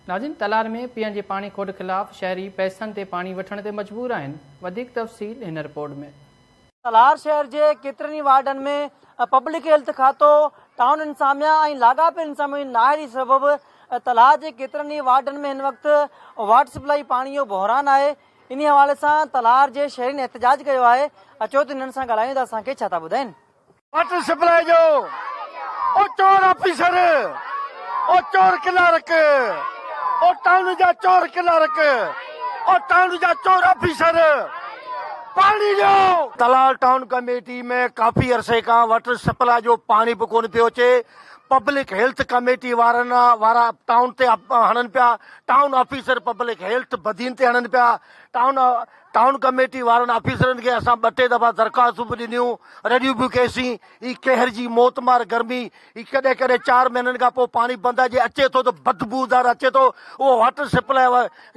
ناظرين تلار ۾ پيئڻ جي پاڻي کوٽ خلاف شهري پئسن تي پاڻي وٺڻ تي مجبور آهن وڌيڪ تفصيل هن رپورٽ ۾. تلار شهر جي ڪيترن ئي وارڊن ۾ پبلڪ هيلٿ کاتو، ٽائون انتظاميا ۽ لاڳاپيل انتظاميا جي نااهلي سبب تلار جي ڪيترن ئي وارڊن ۾ هن وقت واٽر سپلائي پاڻي جو بحران آهي انهي حوالي سان تلار جي شهرين احتجاج ڪيو آهي اچو ته هنن سان ڳالهايون ته اسان کي ڇا ٿا ٻڌائين. واٽر سپلائي جو او چور آفيسر او چور ڪلارڪ او ٽائون جا چور ڪلارڪ او ٽائون جا چور آفيسر پاڻي ڏيو تلال ٽائون ڪميٽي ۾ ڪافي عرصي کان واٽر سپلائي جو پاڻي به ڪون پيو اچي پبلڪ هيلٿ ڪميٽي وارن وارا ٽائون تي هڻن پيا town officer public health Badin تي هڻن پيا ٽائون ٽائون ڪميٽي وارن آفيسرن کي اسان ٻه ٽي دفعا درخواستون به ڏنيون، رڙيون به ڪيسين، هي قهر جي موتمار گرمي، هي ڪڏهن ڪڏهن چار مهينن کان پوء پاڻي بند جي اچي ٿو ته بدبودار اچي ٿو، اهو واٽر سپلاء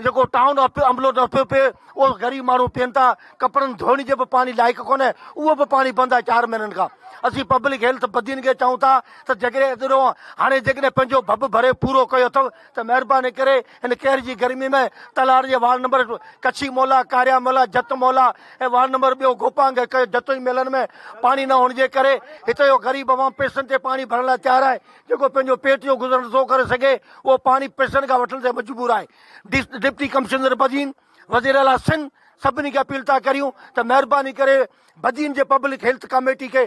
جيڪو ٽائون عملو نه ٿو پي، اهو غريب ماڻهو پين ٿا، ڪپڙن ڌوئڻ جي به پاڻي لائق ڪونهي، اهو به پاڻي بند آهي چار مهينن کان، اسين پبلڪ هيلٿ بدين کي چئون ٿا ته جيڪڏهن اتي رهو، هاڻي جيڪڏهن پنهنجو ڀڀ ڀري پورو ڪيو اٿو ته مهرباني ڪري هن قهر جي گرمي ۾ تلهار جي وارڊ نمبر ڪڇي مولا، ڪاريا مولا، جت مولا ۽ وارڊ نمبر ٻيو گوپانگ ڪيو جتوئي ميلن ۾ پاڻي نه هئڻ جي ڪري هتي جو غريب عوام پيسن تي پاڻي ڀرڻ لاء تيار آهي جيڪو پنهنجو پيٽ جو گذر نه ٿو ڪري سگهي اهو پاڻي پيسن کان وٺڻ تي مجبور آهي ڊپٽي ڪمشنر بدين وزيراعليٰ سنڌ سڀني کي اپيل ٿا ڪريون ته مهرباني ڪري بدين جي پبلڪ هيلٿ ڪاميٽي کي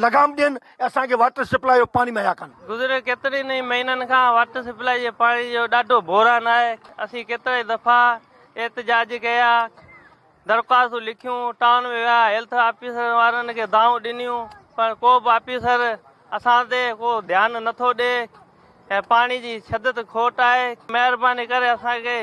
لگام ڏين ۽ اسان کي واٽر سپلاء جو پاڻي مهيا ڪن. گذريل ڪيترن ئي مهينن کان واٽر سپلاء جي پاڻي جو ڏاڍو بحران آهي، اسين ڪيترائي دفعا احتجاج ڪيا، درخواستون لکيون، ٽائون ۾ ويا، هيلٿ آفيسرن وارن کي دانهون ڏنيون پر ڪو به آفيسر اسان تي ڪو ڌيان نٿو ڏي. ۽ پاڻي جي شدت کوٽ آهي مهرباني ڪري اسان کي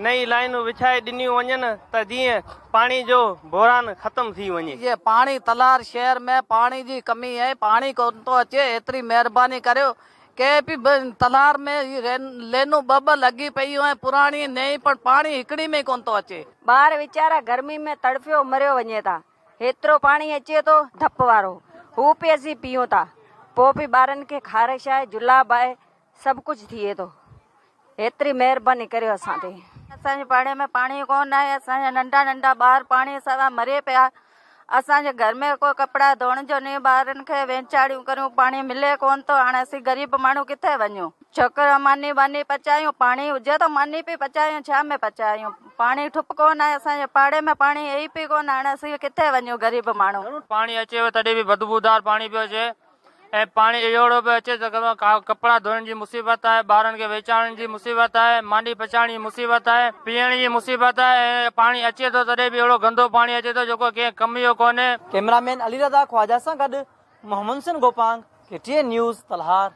نئين لائينون وڇائي ڏنيون وڃن ته جيئن پاڻي جو بحران ختم ٿي وڃي. جي پاڻي تلار شهر ۾ پاڻي جي ڪمي ۽ پاڻي ڪون ٿو اچي ايتري مهرباني ڪريو ڪي پي بي تلار ۾ هي لينون ٻه ٻه لڳي پيون ۽ پراڻي ۽ نئين پڻ پاڻي هڪڙي ۾ ڪون ٿو اچي. ٻار ويچارا گرمي ۾ تڙڦيو مريو وڃي ٿا. هيترو پاڻي اچي ٿو ڌپ وارو، هو به اسين پيئون ٿا. پوء به ٻارن کي خارش آهي، جلاب آهي، سڀ ڪجهه ٿئي ٿو. هيتري مهرباني ڪريو اسان تي. اسان جي پاڙي ۾ پاڻي ڪونه آهي، اسان جا ننڍا ننڍا ٻار پاڻي سوا مري پيا. اسان جي گهر ۾ ڪو ڪپڙا ڌوئڻ جو ني ٻارن کي وينچاڙيون ڪريون، پاڻي ملي ڪونه ٿو، هاڻ اسين غريب ماڻهو ڪٿي وڃون. ڇوڪر ماني واني پچايون پاڻي هجي ته ماني پي پچايون ڇا ۾ پچايون پاڻي ٺپ ڪون آهي اسان جي پاڙي ۾ پاڻي هي ئي پي ڪون هاڻي اسين ڪٿي وڃون غريب ماڻهو. پاڻي اچي هو تڏهن به بدبودار پاڻي پيو اچي ۽ پاڻي اهڙو پيو اچي جو گهران ڪپڙا ڌوئڻ جي مصيبت آهي ٻارن کي ويچارڻ جي مصيبت آهي ماني پچائڻ جي مصيبت آهي پيئڻ جي مصيبت آهي ۽ پاڻي اچي ٿو تڏهن به اهڙو گندو پاڻي اچي ٿو جيڪو ڪنهن ڪم جو ڪونهي. ڪئميرا مين علي رضا خواجه سان گڏ Muhammad Hussain Gopang K T N news Talhar.